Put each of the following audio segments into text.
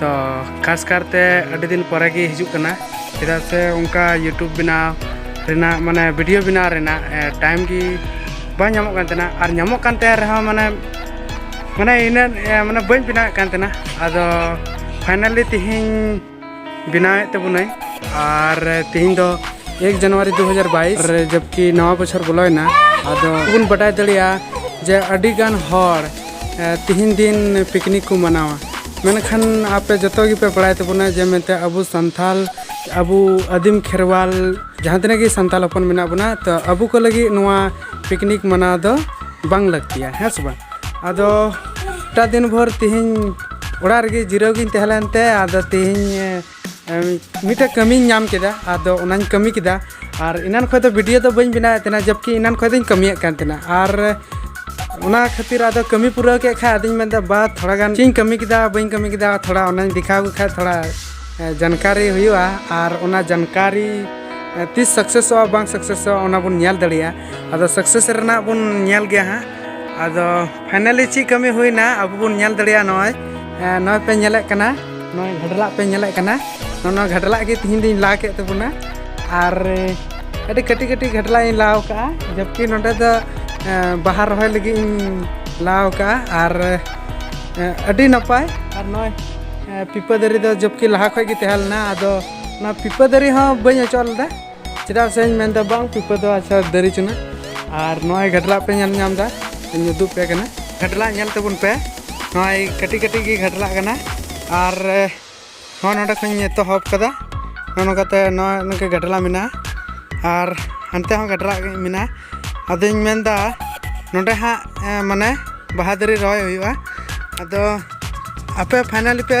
ᱛᱚ ᱠᱷᱟᱥ ᱠᱟᱨᱛᱮ ᱟᱹᱰᱤ ᱫᱤᱱ ᱯᱚᱨᱮ ᱜᱮ ᱦᱤᱡᱩᱜ ᱠᱟᱱᱟ ᱪᱮᱫᱟᱜ ᱥᱮ ᱚᱱᱠᱟ ᱤᱭᱩᱴᱩᱵᱽ ᱵᱮᱱᱟᱣ ᱨᱮᱱᱟᱜ ᱢᱟᱱᱮ ᱵᱷᱤᱰᱤᱭᱳ ᱵᱮᱱᱟᱣ ᱨᱮᱱᱟᱜ ᱴᱟᱭᱤᱢ ᱜᱮ ᱵᱟᱝ ᱧᱟᱢᱚᱜ ᱠᱟᱱ ᱛᱟᱦᱮᱱᱟ ᱟᱨ ᱧᱟᱢᱚᱜ ᱠᱟᱱ ᱛᱟᱦᱮᱸ ᱨᱮᱦᱚᱸ ᱢᱟᱱᱮ ᱢᱟᱱᱮ ᱤᱱᱟᱹ ᱢᱟᱱᱮ ᱵᱟᱹᱧ ᱵᱮᱱᱟᱣᱮᱫ ᱠᱟᱱ ᱛᱟᱦᱮᱱᱟ ᱟᱫᱚ ᱯᱷᱟᱭᱱᱟᱞᱤ ᱛᱤᱦᱤᱧ ᱵᱮᱱᱟᱣᱮᱫ ᱛᱟᱵᱚᱱᱟᱹᱧ ᱟᱨ ᱛᱤᱦᱤᱧ ᱫᱚ ᱮᱠ ᱡᱟᱱᱩᱣᱟᱨᱤ ᱫᱩ ᱦᱟᱡᱟᱨ ᱵᱟᱭᱤᱥ ᱨᱮ ᱡᱚᱵᱠᱤ ᱱᱟᱣᱟ ᱵᱚᱪᱷᱚᱨ ᱵᱚᱞᱚᱭᱮᱱᱟ ᱟᱫᱚ ᱵᱚᱱ ᱵᱟᱰᱟᱭ ᱫᱟᱲᱮᱭᱟᱜᱼᱟ ᱡᱮ ᱟᱹᱰᱤᱜᱟᱱ ᱦᱚᱲ ᱛᱤᱦᱤᱧ ᱫᱤᱱ ᱯᱤᱠᱱᱤᱠ ᱠᱚ ᱢᱟᱱᱟᱣᱟ ᱢᱮᱱᱠᱷᱟᱱ ᱟᱯᱮ ᱡᱚᱛᱚ ᱜᱮᱯᱮ ᱵᱟᱲᱟᱭ ᱛᱟᱵᱚᱱᱟ ᱡᱮ ᱢᱮᱱᱛᱮ ᱟᱵᱚ ᱥᱟᱱᱛᱟᱞ ᱟᱵᱚ ᱟᱹᱫᱤᱢ ᱠᱷᱮᱨᱣᱟᱞ ᱡᱟᱦᱟᱸ ᱛᱤᱱᱟᱹᱜ ᱜᱮ ᱥᱟᱱᱛᱟᱞ ᱦᱚᱯᱚᱱ ᱢᱮᱱᱟᱜ ᱵᱚᱱᱟ ᱛᱚ ᱟᱵᱚ ᱠᱚ ᱞᱟᱹᱜᱤᱫ ᱱᱚᱣᱟ ᱯᱤᱠᱱᱤᱠ ᱢᱟᱱᱟᱣ ᱫᱚ ᱵᱟᱝ ᱞᱟᱹᱠᱛᱤᱭᱟ ᱦᱮᱸ ᱥᱮ ᱵᱟᱝ ᱟᱫᱚ ᱮᱴᱟᱜ ᱫᱤᱱ ᱵᱷᱳᱨ ᱛᱤᱦᱤᱧ ᱚᱲᱟᱜ ᱨᱮᱜᱮ ᱡᱤᱨᱟᱹᱣ ᱜᱤᱧ ᱛᱟᱦᱮᱸ ᱞᱮᱱᱛᱮ ᱟᱫᱚ ᱛᱤᱦᱤᱧ ᱢᱤᱫᱴᱮᱡ ᱠᱟᱹᱢᱤᱧ ᱧᱟᱢ ᱠᱮᱫᱟ ᱟᱫᱚ ᱚᱱᱟᱧ ᱠᱟᱹᱢᱤ ᱠᱮᱫᱟ ᱟᱨ ᱮᱱᱟᱱ ᱠᱷᱚᱡ ᱫᱚ ᱵᱷᱤᱰᱤᱭᱳ ᱫᱚ ᱵᱟᱹᱧ ᱵᱮᱱᱟᱣᱮᱫ ᱛᱟᱦᱮᱱᱟ ᱡᱚᱵᱠᱤ ᱮᱱᱟᱱ ᱠᱷᱚᱡ ᱫᱚᱧ ᱠᱟᱹᱢᱤᱭᱮᱫ ᱠᱟᱱ ᱛᱟᱦᱮᱱᱟ ᱟᱨ ᱚᱱᱟ ᱠᱷᱟᱹᱛᱤᱨ ᱟᱫᱚ ᱠᱟᱹᱢᱤ ᱯᱩᱨᱟᱹᱣ ᱠᱮᱫ ᱠᱷᱟᱡ ᱟᱫᱚᱧ ᱢᱮᱱᱫᱟ ᱵᱟ ᱛᱷᱚᱲᱟ ᱜᱟᱱ ᱪᱮᱫ ᱤᱧ ᱠᱟᱹᱢᱤ ᱠᱮᱫᱟ ᱵᱟᱹᱧ ᱠᱟᱹᱢᱤ ᱠᱮᱫᱟ ᱛᱷᱚᱲᱟ ᱚᱱᱟᱧ ᱫᱮᱠᱷᱟᱣ ᱠᱚ ᱠᱷᱟᱡ ᱛᱷᱚᱲᱟ ᱡᱟᱱᱠᱟᱨᱤ ᱦᱩᱭᱩᱜᱼᱟ ᱟᱨ ᱚᱱᱟ ᱡᱟᱱᱠᱟᱨᱤ ᱛᱤᱥ ᱥᱟᱠᱥᱮᱥᱚᱜᱼᱟ ᱵᱟᱝ ᱥᱟᱠᱥᱮᱥᱚᱜᱼᱟ ᱚᱱᱟ ᱵᱚᱱ ᱧᱮᱞ ᱫᱟᱲᱮᱭᱟᱜᱼᱟ ᱟᱫᱚ ᱥᱟᱠᱥᱮᱥ ᱨᱮᱱᱟᱜ ᱵᱚᱱ ᱧᱮᱞ ᱜᱮᱭᱟ ᱦᱟᱸᱜ ᱟᱫᱚ ᱯᱷᱟᱭᱱᱟᱞᱤ ᱪᱮᱫ ᱠᱟᱹᱢᱤ ᱦᱩᱭᱱᱟ ᱟᱵᱚ ᱵᱚᱱ ᱧᱮᱞ ᱫᱟᱲᱮᱭᱟᱜᱼᱟ ᱱᱚᱜᱼᱚᱭ ᱱᱚᱜᱼᱚᱭ ᱯᱮ ᱧᱮᱞᱮᱫ ᱠᱟᱱᱟ ᱱᱚᱜᱼᱚᱭ ᱜᱷᱟᱰᱞᱟᱜ ᱯᱮ ᱧᱮᱞᱮᱫ ᱠᱟᱱᱟ ᱱᱚᱣᱟ ᱜᱷᱟᱰᱞᱟᱜ ᱜᱮ ᱛᱤᱦᱤᱧ ᱫᱚᱧ ᱞᱟ ᱠᱮᱫ ᱛᱟᱵᱚᱱᱟ ᱟᱨ ᱟᱹᱰᱤ ᱠᱟᱹᱴᱤᱡ ᱠᱟᱹᱴᱤᱡ ᱜᱷᱟᱰᱞᱟᱜ ᱤᱧ ᱞᱟᱣ ᱠᱟᱜᱼᱟ ᱡᱚᱵᱠᱤ ᱱᱚᱰᱮ ᱫᱚ ᱵᱟᱦᱟ ᱨᱚᱦᱚᱭ ᱞᱟᱹᱜᱤᱫ ᱤᱧ ᱞᱟᱣ ᱠᱟᱜᱼᱟ ᱟᱨ ᱟᱹᱰᱤ ᱱᱟᱯᱟᱭ ᱟᱨ ᱱᱚᱜᱼᱚᱭ ᱯᱤᱯᱟᱹ ᱫᱟᱨᱮ ᱫᱚ ᱡᱚᱵᱠᱤ ᱞᱟᱦᱟ ᱠᱷᱚᱱ ᱜᱮ ᱛᱟᱦᱮᱸ ᱞᱮᱱᱟ ᱟᱫᱚ ᱱᱚᱣᱟ ᱯᱤᱯᱟᱹ ᱫᱟᱨᱮ ᱦᱚᱸ ᱵᱟᱹᱧ ᱚᱪᱚᱜ ᱞᱮᱫᱟ ᱪᱮᱫᱟᱜ ᱥᱮᱧ ᱢᱮᱱᱫᱟ ᱵᱟᱝ ᱯᱤᱯᱟᱹ ᱫᱚ ᱟᱪᱪᱷᱟ ᱫᱟᱨᱮ ᱪᱩᱱᱟ ᱟᱨ ᱱᱚᱜᱼᱚᱭ ᱜᱷᱟᱴᱞᱟᱜ ᱯᱮ ᱧᱮᱞ ᱧᱟᱢ ᱮᱫᱟ ᱤᱧ ᱩᱫᱩᱜ ᱯᱮ ᱠᱟᱱᱟ ᱜᱷᱟᱴᱞᱟᱜ ᱧᱮᱞ ᱛᱟᱵᱚᱱ ᱯᱮ ᱱᱚᱜᱼᱚᱭ ᱠᱟᱹᱴᱤᱡ ᱠᱟᱹᱴᱤᱡ ᱜᱮ ᱜᱷᱟᱴᱞᱟᱜ ᱠᱟᱱᱟ ᱟᱨ ᱱᱚᱜᱼᱚ ᱱᱚᱰᱮ ᱠᱷᱚᱱᱤᱧ ᱮᱛᱚᱦᱚᱵ ᱠᱟᱫᱟ ᱱᱚᱜᱼᱚ ᱱᱚᱝᱠᱟᱛᱮ ᱱᱚᱜᱼᱚᱭ ᱱᱚᱝᱠᱟ ᱜᱷᱟᱴᱞᱟᱜ ᱢᱮᱱᱟᱜᱼᱟ ᱟᱨ ᱦᱟᱱᱛᱮ ᱦᱚᱸ ᱜᱷᱟᱴᱞᱟᱜ ᱢᱮᱱᱟᱜᱼᱟ ᱟᱫᱚᱧ ᱢᱮᱱᱫᱟ ᱱᱚᱰᱮ ᱦᱟᱸᱜ ᱢᱟᱱᱮ ᱵᱟᱦᱟ ᱫᱟᱨᱮ ᱨᱚᱦᱚᱭ ᱦᱩᱭᱩᱜᱼᱟ ᱟᱫᱚ ᱟᱯᱮ ᱯᱷᱟᱭᱱᱟᱞᱤ ᱯᱮ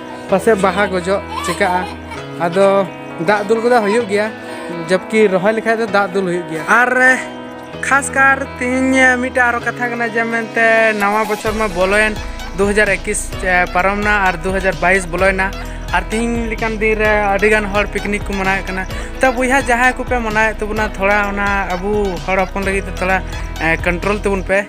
ᱯᱟᱥᱮ ᱵᱟᱦᱟ ᱜᱚᱡᱚᱜ ᱪᱮᱠᱟᱜᱼᱟ ᱟᱫᱚ ᱫᱟᱜ ᱫᱩᱞ ᱠᱚᱫᱚ ᱦᱩᱭᱩᱜ ᱜᱮᱭᱟ ᱡᱚᱵᱠᱤ ᱨᱚᱦᱚᱭ ᱞᱮᱠᱷᱟᱡ ᱫᱚ ᱫᱟᱜ ᱫᱩᱞ ᱦᱩᱭᱩᱜ ᱜᱮᱭᱟ ᱟᱨ ᱠᱷᱟᱥ ᱠᱟᱨ ᱛᱤᱦᱤᱧ ᱢᱤᱫᱴᱟᱝ ᱟᱨᱚ ᱠᱟᱛᱷᱟ ᱠᱟᱱᱟ ᱡᱮ ᱢᱮᱱᱛᱮ ᱱᱟᱣᱟ ᱵᱚᱪᱷᱚᱨ ᱢᱟ ᱵᱚᱞᱚᱭᱮᱱ 2021 ᱯᱟᱨᱚᱢᱱᱟ ᱟᱨ 2022 ᱵᱚᱞᱚᱭᱮᱱᱟ ᱟᱨ ᱛᱤᱦᱤᱧ ᱞᱮᱠᱟᱱ ᱫᱤᱱ ᱨᱮ ᱟᱹᱰᱤ ᱜᱟᱱ ᱦᱚᱲ ᱯᱤᱠᱱᱤᱠ ᱠᱚ ᱢᱟᱱᱟᱣᱮᱫ ᱠᱟᱱᱟ ᱛᱚ ᱵᱚᱭᱦᱟ ᱡᱟᱦᱟᱸᱭ ᱠᱚᱯᱮ ᱢᱟᱱᱟᱣᱮᱫ ᱛᱟᱵᱚᱱᱟ ᱛᱷᱚᱲᱟ ᱚᱱᱟ ᱟᱵᱚ ᱦᱚᱲ ᱦᱚᱯᱚᱱ ᱞᱟᱹᱜᱤᱫ ᱛᱮ ᱛᱷᱚᱲᱟ ᱠᱚᱱᱴᱨᱳᱞ ᱛᱟᱵᱚᱱ ᱯᱮ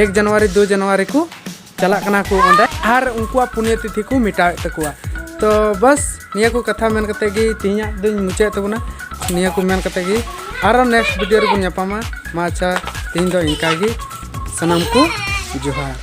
ᱮᱠ ᱡᱟᱱᱩᱣᱟᱨᱤ ᱫᱩ ᱡᱟᱱᱩᱣᱟᱨᱤ ᱠᱚ ᱪᱟᱞᱟᱜ ᱠᱟᱱᱟ ᱠᱚ ᱚᱸᱰᱮ ᱟᱨ ᱩᱱᱠᱩᱣᱟᱜ ᱯᱩᱱᱭᱟᱹ ᱛᱤᱛᱷᱤ ᱠᱚ ᱢᱮᱴᱟᱣᱮᱫ ᱛᱟᱠᱚᱣᱟ ᱛᱚ ᱵᱟᱥ ᱱᱤᱭᱟᱹ ᱠᱚ ᱠᱟᱛᱷᱟ ᱢᱮᱱ ᱠᱟᱛᱮ ᱜᱮ ᱛᱮᱦᱮᱧᱟᱜ ᱫᱚᱧ ᱢᱩᱪᱟᱹᱫ ᱛᱟᱵᱚᱱᱟ ᱱᱤᱭᱟᱹ ᱠᱚ ᱢᱮᱱ ᱠᱟᱛᱮ ᱜᱮ ᱟᱨᱚ ᱱᱮᱠᱥᱴ ᱵᱷᱤᱰᱤᱭᱳ ᱨᱮᱵᱚᱱ ᱧᱟᱯᱟᱢᱟ ᱢᱟ ᱟᱪᱪᱷᱟ ᱛᱮᱦᱮᱧ ᱫᱚ ᱤᱱᱠᱟ ᱜᱮ ᱥᱟᱱᱟᱢ ᱠᱚ ᱡᱚᱦᱟᱨ